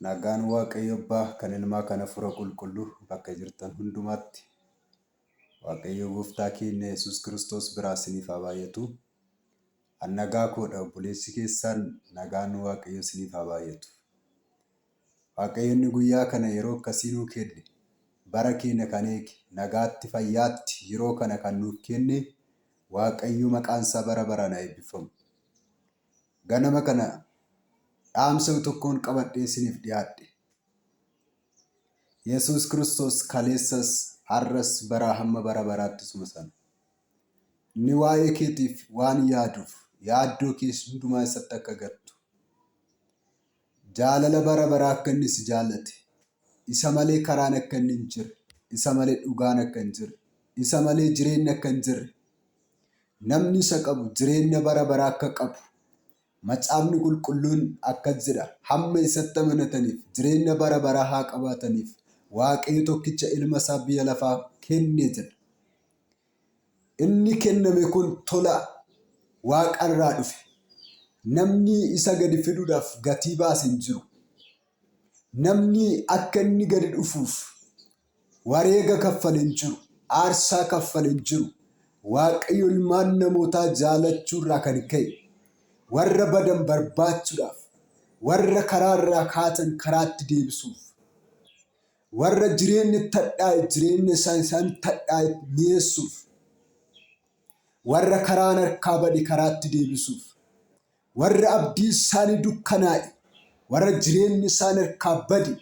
Nagaan Waaqayyo Abbaa kan Ilmaa kan Hafuura Qulqulluu bakka jirtan hundumaatti Waaqayyo Gooftaa keenya Yesuus Kiristoos biraa isiniif haa baay'atu. An nagaa koodha obboleessi keessaan nagaan Waaqayyo isiniif haa baay'atu. Waaqayyo inni guyyaa kana yeroo akkasii nuu kenne bara keenya kan eege nagaatti fayyaatti yeroo kana kan nuuf kenne Waaqayyo maqaan isaa bara baraan haa eebbifamu. Ganama kana dhaamsa tokkoon qabadhee isiniif dhiyaadhe. Yesuus Kiristoos kaleessas, har'as, baraa hamma bara baraatti isuma sana. Inni waa'ee keetiif waan yaaduuf yaaddoo kee hundumaa isatti akka gattu. Jaalala bara baraa akka inni si jaallate, isa malee karaan akka inni hin jirre, isa malee dhugaan akka hin jirre, isa malee jireenyi akka hin jirre, namni isa qabu jireenya bara baraa akka qabu macaafni qulqulluun akkas jedha hamma isatti amanataniif jireenya bara baraa haa qabaataniif waaqayyo tokkicha ilma isaa biyya lafaa kenne jedha. Inni kenname kun tola waaqa irraa dhufe. Namni isa gadi fiduudhaaf gatii baase hin jiru. Namni akka inni gadi dhufuuf wareega kaffale hin jiru. Aarsaa kaffale hin jiru. Waaqayyo ilmaan namootaa jaalachuu irraa kan ka'e warra badan barbaachuudhaaf, warra karaa irraa kaatan karaatti deebisuuf Warra jireenya itti hadhaa'e jireenya isaa isaan itti hadhaa'e mi'eessuuf, warra karaan harkaa bade karaatti deebisuuf, warra abdii isaanii dukkanaa'e, warra jireenya isaan harkaa bade,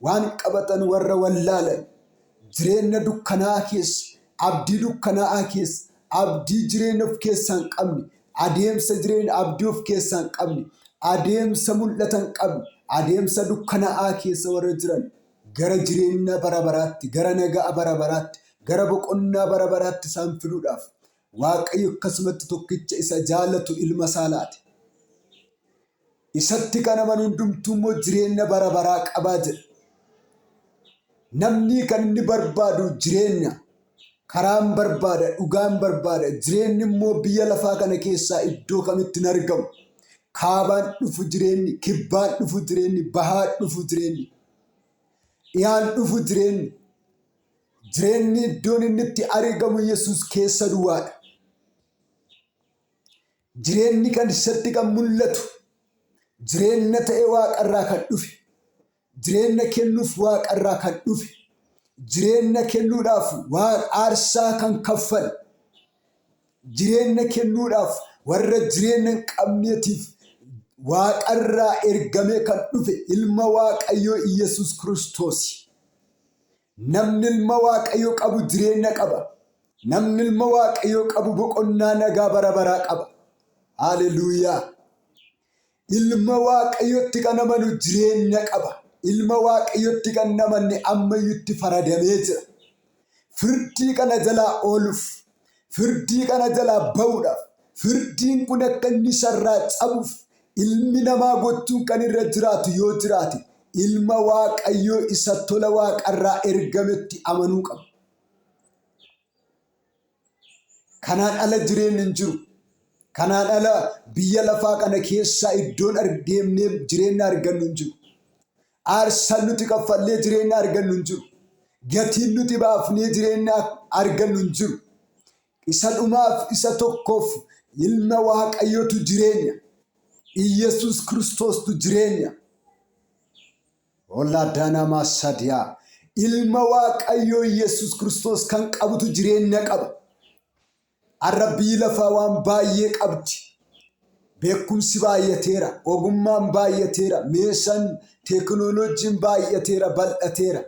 waan qabatan warra wallaalan, jireenya dukkanaa'aa keessa, abdii dukkanaa'aa keessa, Abdii jireenya of keessaa hin qabne, adeemsa jireenya abdii of keessaa hin qabne, adeemsa mul'ata hin qabne, adeemsa dukkanaa'aa keessa warra jiran gara jireenya bara baraatti, gara nagaa bara baraatti, gara boqonnaa bara baraatti isaan fiduudhaaf Waaqayyo akkasumatti tokkicha isa jaalatu ilma isaa laate. Isatti kan amanu hundumtuu immoo jireenya bara baraa qabaa jedha. Namni kan inni barbaadu jireenya. Karaan barbaada, dhugaan barbaada. Jireenyi immoo biyya lafaa kana keessaa iddoo kamitti hin argamu. Kaabaan dhufu jireenyi, kibbaan dhufu jireenyi, bahaan dhufu jireenyi, dhiyaan dhufu jireenyi. Jireenyi iddoon inni itti argamu Yesuus keessa duwwaadha. Jireenni kan isatti kan mul'atu jireenna ta'e waaqarraa kan dhufe jireenna kennuuf waaqarraa kan dhufe jireenna kennuudhaaf waan aarsaa kan kaffale jireenna kennuudhaaf warra jireenna hin qabneetiif waaqarraa ergamee kan dhufe ilma waaqayyoo Iyyasuus Kiristoosi. Namni ilma waaqayyo qabu jireenya qaba. Namni ilma waaqayyoo qabu boqonnaa nagaa bara baraa qaba. Haaleluyyaa! Ilma waaqayyotti kan amanu jireenya qaba. Ilma waaqayyotti kan hin amanne ammayyutti faradamee jira. Firdii kana jalaa ooluuf Firdii kana jalaa ba'uudhaaf, firdiin kun akka inni isa irraa cabuuf ilmi namaa gochuun kan irra jiraatu yoo jiraate ilma Waaqayyoo isa tola Waaqarraa ergametti amanuu qaba. Kanaan ala jireenyi hin jiru. Kanaan ala biyya lafaa kana keessaa iddoon ar- deemnee jireenya argannu hin jiru. Aarsaan nuti kaffallee jireenya argannu hin jiru. Gatiin nuti baafnee jireenya argannu hin jiru. Isa dhumaaf isa tokkoof ilma Waaqayyootu jireenya. Iyyasuus Kiristoostu jireenya. Ollaa daanaamaa sadiyaa. Ilma Waaqayyoo Iyyasuus Kiristoos kan qabutu jireenya qaba. Har'a biyyi lafaa waan baay'ee qabdi. Beekumsi baay'ateera, ogummaan baay'ateera, meeshaan teekinooloojiin baay'ateera, bal'ateera.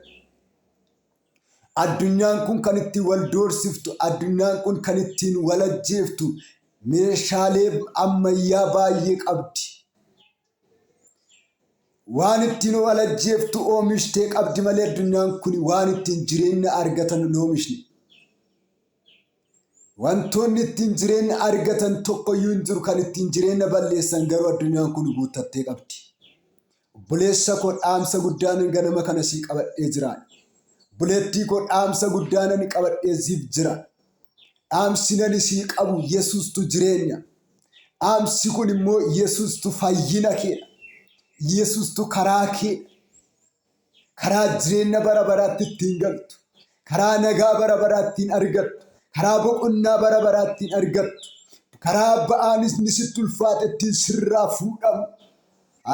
Addunyaan kun kan ittiin wal doorsiftu, addunyaan kun kan ittiin wal ajjeeftu meeshaalee ammayyaa baay'ee qabdi. Waan ittiin of alajjeeftu oomishtee qabdi malee addunyaan kun waan ittiin jireenya argatan hin oomishne. Wantoonni ittiin jireenya argatan tokkoyyuu hin jiru kan ittiin jireenya balleessan garuu addunyaan kun guuttattee qabdi. Obboleessa koo dhaamsa guddaanan ganama kana sii qabadhee jira. Obboleettii koo dhaamsa guddaanan qabadhee siif jira. Dhaamsinan isii qabu Yesuustu jireenya. Dhaamsi kun immoo Yesuustu fayyina keedha. Yesuustu karaa keedha. Karaa jireenya bara baraatti ittiin galtu. Karaa nagaa bara baraa ittiin argattu. Karaa boqonnaa bara baraa ittiin argattu. Karaa ba'aanis ni sitti ulfaate ittiin sirraa fuudhamu.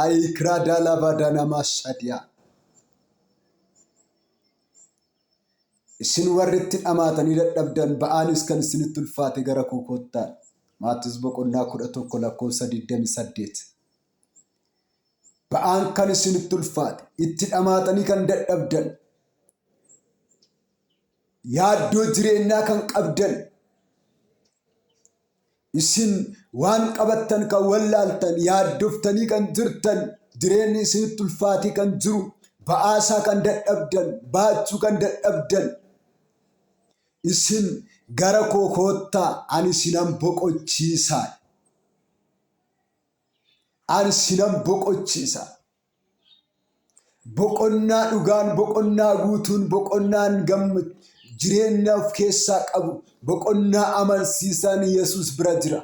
Ayi kiraa daalaa baadaa namaa sadiyaa. Isin warri itti dhamaatanii dadhabdan, ba'aanis kan isinitti ulfaate gara koo kottaa. Maatewos boqonnaa 11 lakkoofsa 28. Ba'aan kan isinitti ulfaate, itti dhamaatanii kan dadhabdan, yaaddoo jireenyaa kan qabdan, Isin waan qabattan kan wallaaltan, yaaddoftanii kan jirtan, jireenyi isinitti ulfaatee kan jiru, ba'aasaa kan dadhabdan, baachuu kan dadhabdan, isin gara koo koottaa ani isinan boqochiisa. Ani isinan boqochiisa. Boqonnaa dhugaan, boqonnaa guutuun, boqonnaan gamm- jireenya of keessaa qabu, boqonnaa amansiisaan Yesuus bira jira.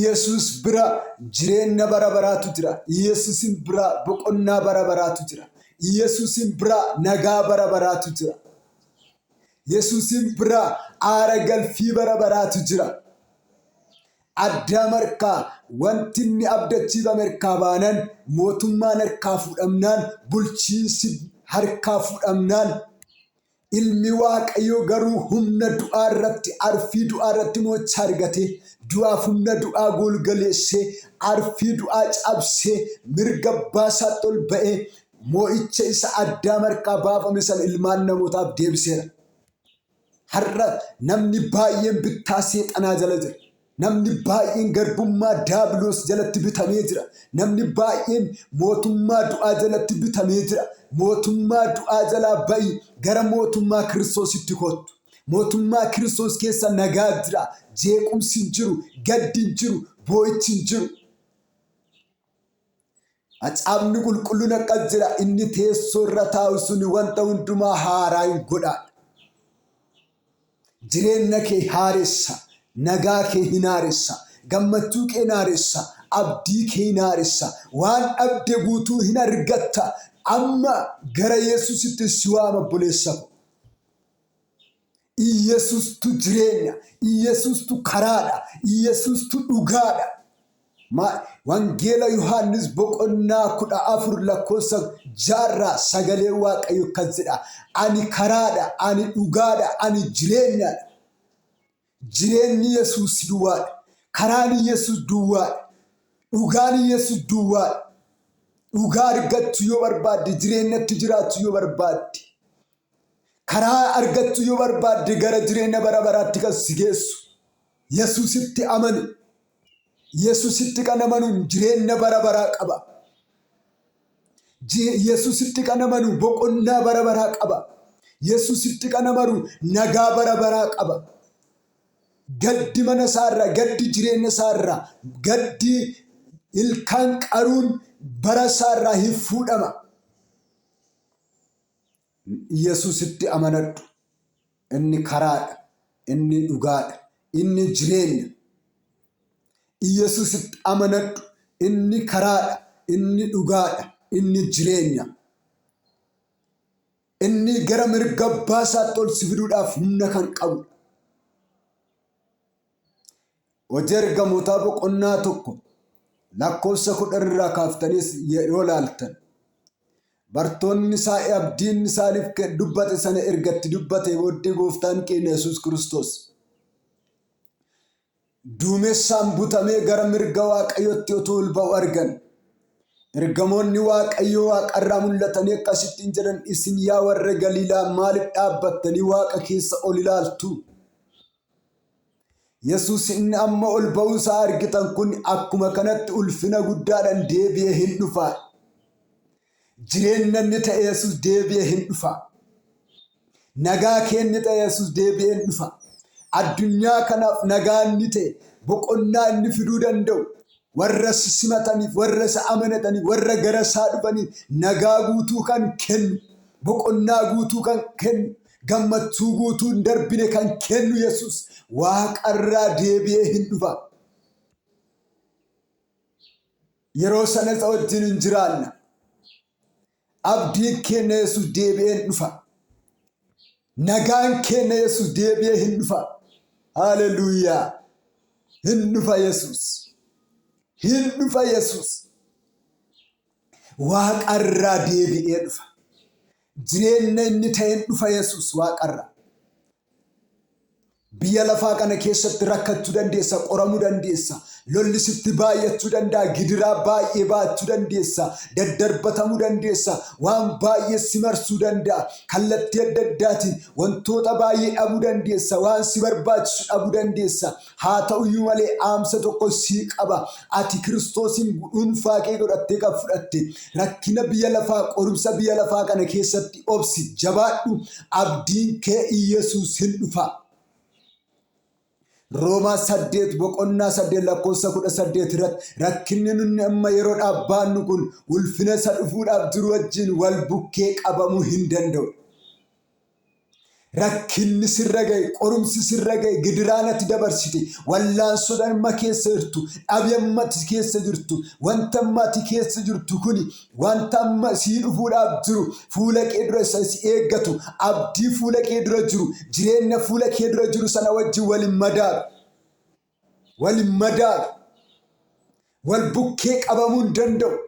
Yesuus bira jireenya bara baraatu jira. Yesuusin bira boqonnaa bara baraatu jira. Yesuusin bira nagaa bara baraatu jira. Yesuusin bira aara galfii bara baraatu jira. Addaam harkaa wanti inni abdachiifame harkaa baanan, mootummaan harkaa fuudhamnaan, bulchiinsi harkaa fuudhamnaan, Ilmi Waaqayyoo garuu humna du'aa irratti, arfii du'aa irratti mo'icha argatee, du'aaf humna du'aa golgaleessee, arfii du'aa cabsee, mirga abbaa isaatti ol ba'ee, mo'icha isa Addaam harkaa baafame sana ilmaan namootaaf deebiseera. Har'a namni baay'een bittaa seexanaa jala jira. Namni baay'een garbummaa daabiloos jalatti bitamee jira. Namni baay'een mootummaa du'aa jalatti bitamee jira. Mootummaa du'aa jalaa ba'i gara mootummaa kiristoositti kottu. Mootummaa kiristoos keessa nagaa jira. Jeequmsi hin jiru, gaddi hin jiru, boo'ichi hin jiru. Macaafni qulqulluun akkas jedha inni teessoo irra taa'u sun wanta hundumaa haaraa hin godhaadha. Jireenya kee haaressa, nagaa kee hin haaressa, gammachuu kee hin haaressa, abdii kee hin haaressa, waan dhabde guutuu hin argatta. Amma gara Yesuusitti si waama obboleessa koo. Iyyasuustu jireenya, Iyyasuustu karaadha, Iyyasuustu dhugaadha. Maa- Wangeela Yohaannis boqonnaa kudha afur lakkoofsa jaarraa sagalee Waaqayyo akkas jedha. Ani karaadha, ani dhugaadha, ani jireenyadha. Jireenyi Yesuus duwwaadha. Karaan Yesuus duwwaadha. Dhugaan Yesuus duwwaadha. Dhugaa argachuu yoo barbaadde, jireenyatti jiraachuu yoo barbaadde, Karaa argattu yoo barbaadde gara jireenya bara baraatti kan si geessu Yesuusitti amani. Yesuusitti kan amanuun jireenya bara baraa qaba. Je- Yesuusitti kan amanu boqonnaa bara baraa qaba. Yesuusitti kan amanu nagaa bara baraa qaba. Gaddi mana isaarraa, gaddi jireenya isaarraa, gaddi ilkaan qaruun bara isaarraa hin fuudhama. Yesuusitti amanadhu. Inni karaadha. Inni dhugaadha. Inni jireenya. Yesuusitti amanadhu. Inni karaadha. Inni dhugaadha. Inni jireenya. Inni gara mirga abbaa isaatti ol si fiduudhaaf humna kan qabudha. Hojii Ergamootaa boqonnaa 1 lakkoofsa 10 irraa kaaftanis yeroo laaltan bartoonni isaa abdiin isaaniif kan dubbate sana erga itti dubbate booddee gooftaan keenya Yesuus Kiristoos duumessaan butamee gara mirga waaqayyootti otuu ol ba'u argan. Ergamoonni waaqayyoo waaqarraa mul'atanii akkasittiin jedhan isin yaa warra Galiilaa maaliif dhaabbattanii waaqa keessa ol ilaaltu? Yesus inni amma ol ba'uu isaa argitan kun akkuma kanatti ulfina guddaadhaan deebi'ee hin dhufa. Jireenya inni ta'e Yesus deebi'ee hin dhufa. Nagaa kee inni ta'e Yesus deebi'ee hin dhufa. Addunyaa kanaaf nagaa inni ta'e boqonnaa inni fiduu danda'u warra isa simataniif, warra isa amanataniif, warra gara isaa dhufaniif nagaa guutuu kan kennu, boqonnaa guutuu kan kennu. Gammachuu guutuu hin darbine kan kennu Yesuus waaqarraa deebi'ee hin dhufa. Yeroo sana isa wajjin hin jiraanna. Abdiin keenya Yesuus deebi'ee hin dhufa. Nagaan keenya Yesuus deebi'ee hin dhufa. Haleluuyaa! Hin dhufa Yesuus. Hin dhufa Yesuus. Waaqa irraa deebi'ee dhufa. Jireenya inni ta'een dhufa Yesuus waaqa irraa. Biyya lafaa kana keessatti rakkachuu dandeessa, qoramuu dandeessa, lolli sitti baay'achuu danda'a, gidiraa baay'ee baachuu dandeessa, daddarbatamuu dandeessa, waan baay'ee si marsuu danda'a, kallattii adda addaatiin wantoota baay'ee dhabuu dandeessa, waan si barbaachisu dhabuu dandeessa. Haa ta'u iyyuu malee dhaamsa tokko sii qaba. Ati Kiristoosiin dhuunfaa kee godhattee kan fudhatte rakkina biyya lafaa qorumsa biyya lafaa kana keessatti obsi jabaadhu abdiin kee Iyyasuusin dhufa. Roomaa 8 boqonnaa 8 lakkoofsa 18 irratti rakkinni nunni amma yeroo dhaabbaannu kun ulfina isa dhufuudhaaf jiru wajjin wal bukkee qabamuu hin danda'u. Rakkinni sirra ga'e, qorumsi sirra ga'e, gidiraan ati dabarsite, wallaansoodhaan amma keessa jirtu, dhabi amma ati keessa jirtu, wanta amma ati keessa jirtu kuni wanta amma sii dhufuudhaaf jiru fuula kee dura isa si eeggatu, abdii fuula kee dura jiru, jireenya fuula kee dura jiru sana wajjin wal hin madaalu. wal hin madaalu, wal bukkee qabamuu hin danda'u.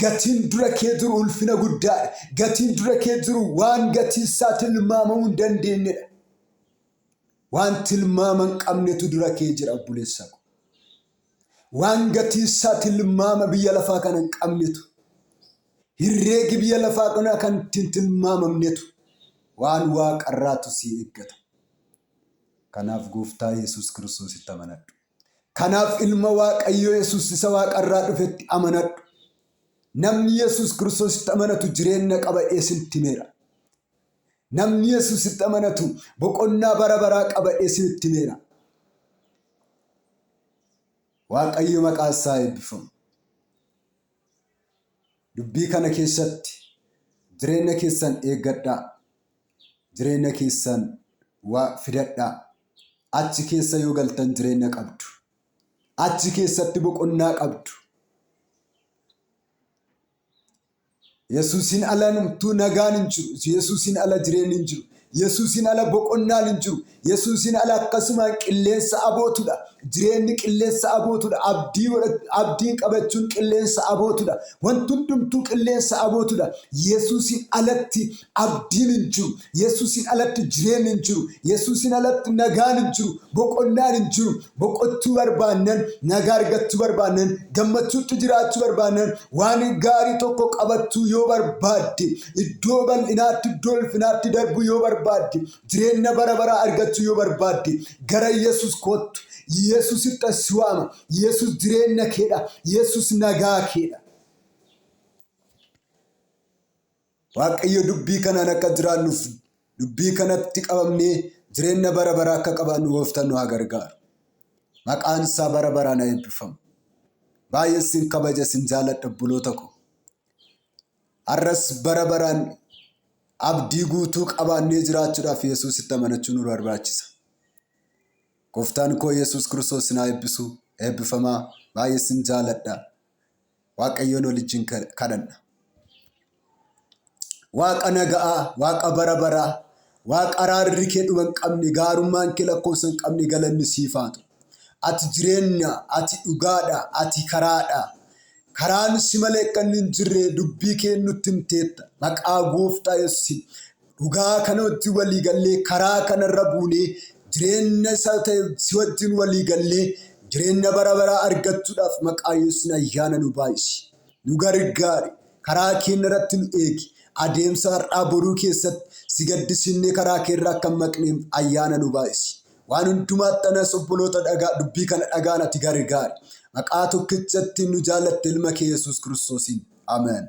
Gatiin dura kee jiru ulfina guddaadha. Gatiin dura kee jiru waan gatiin isaa tilmaamamuu hin dandeenyedha. Waan tilmaama hin qabnetu dura kee jira obboleessa ko. Waan gatiin isaa tilmaama biyya lafaa kana hin qabnetu. Herreegi biyya lafaa kanaa kan ittiin tilmaamamnetu waan waaqarraatu si eeggata. Kanaaf Gooftaa Yesuus Kiristoositti amanadhu. Kanaaf Ilma Waaqayyoo Yesuus isa Waaqarraa dhufetti amanadhu. Namni Yesuus Kiristoositti amanatu jireenya qaba jedhee isinitti himeera. Namni Yesuusitti amanatu boqonnaa bara baraa qaba jedhee isinitti himeera. Waaqayyo maqaan isaa eebbifamu. Dubbii kana keessatti jireenya keessan eeggadhaa. jireenya keessan waa fidadhaa. Achi keessa yoo galtan jireenya qabdu. Achi keessatti boqonnaa qabdu. Yesuusiin ala numtuu nagaan hin jiru. Yesuusiin ala jireenyi hin jiru. Yesuusiin ala boqonnaan hin jiru. Yesuusiin ala akkasumaan qilleensa abootudha. Jireenni qilleensa abootudha. Abdii godhach- abdiin qabachuun qilleensa abootudha. Wanti hundumtuu qilleensa abootudha. Yesuusiin alatti abdiin hin jiru. Yesuusiin alatti jireenyi hin jiru. Yesuusiin alatti nagaan hin jiru. Boqonnaan hin jiru. Boqochuu barbaannan, nagaa argachuu barbaannan, gammachuutti jiraachuu barbaannan, waan gaarii tokko qabachuu yoo barbaadde, iddoo bal'inaatti, iddoo ulfinaatti darbuu yoo barbaadde, Jireenya bara baraa argachuu yoo barbaadde gara Yesus koottu. Yesusittan si waama. Yesus jireenya keedha. Yesus nagaa keedha. Waaqayyo dubbii kanaan akka jiraannuuf dubbii kanatti qabamnee jireenya bara baraa akka qabaannu gooftaan nu haa gargaaru. Maqaan isaa bara baraan haa eebbifamu. Baay'ee sin kabaja sin jaaladha obboloota koo. Har'as bara baraan abdii guutuu qabaannee jiraachuudhaaf Yesuusitti amanachuu nu barbaachisa. Gooftaan koo Yesuus Kiristoos sin haa eebbisu. Eebbifamaa baay'ee sin jaaladha. Waaqayyoon waliin kadhanna. Waaqa naga'aa, Waaqa bara baraa, Waaqa araarri kee dhuma hin qabne, gaarummaan kee lakkoofsa hin qabne galanni siif haa ta'u. Ati jireenya, ati dhugaadha, ati karaadha. Karaan si malee akka inni hin jirre dubbii kee nutti himteetta. Maqaa gooftaa Yesuusiin dhugaa kana wajjin walii gallee karaa kanarra buunee jireenya isa ta'e si wajjin walii gallee jireenya bara baraa argachuudhaaf maqaa Yesuusiin ayyaana nu baay'isi. Nu gargaari, karaa keenya irratti nu eegi, adeemsa har'aa boruu keessatti si gaddisiifnee karaa kee irraa akka hin maqneef ayyaana nu baay'isi. Waan hundumaatti anas obboloota dhagaa dubbii kana dhagaan ati gargaari. Maqaa tokkicha ittiin nu jaallatte ilma kee Yesuus Kiristoosiin. Ameen.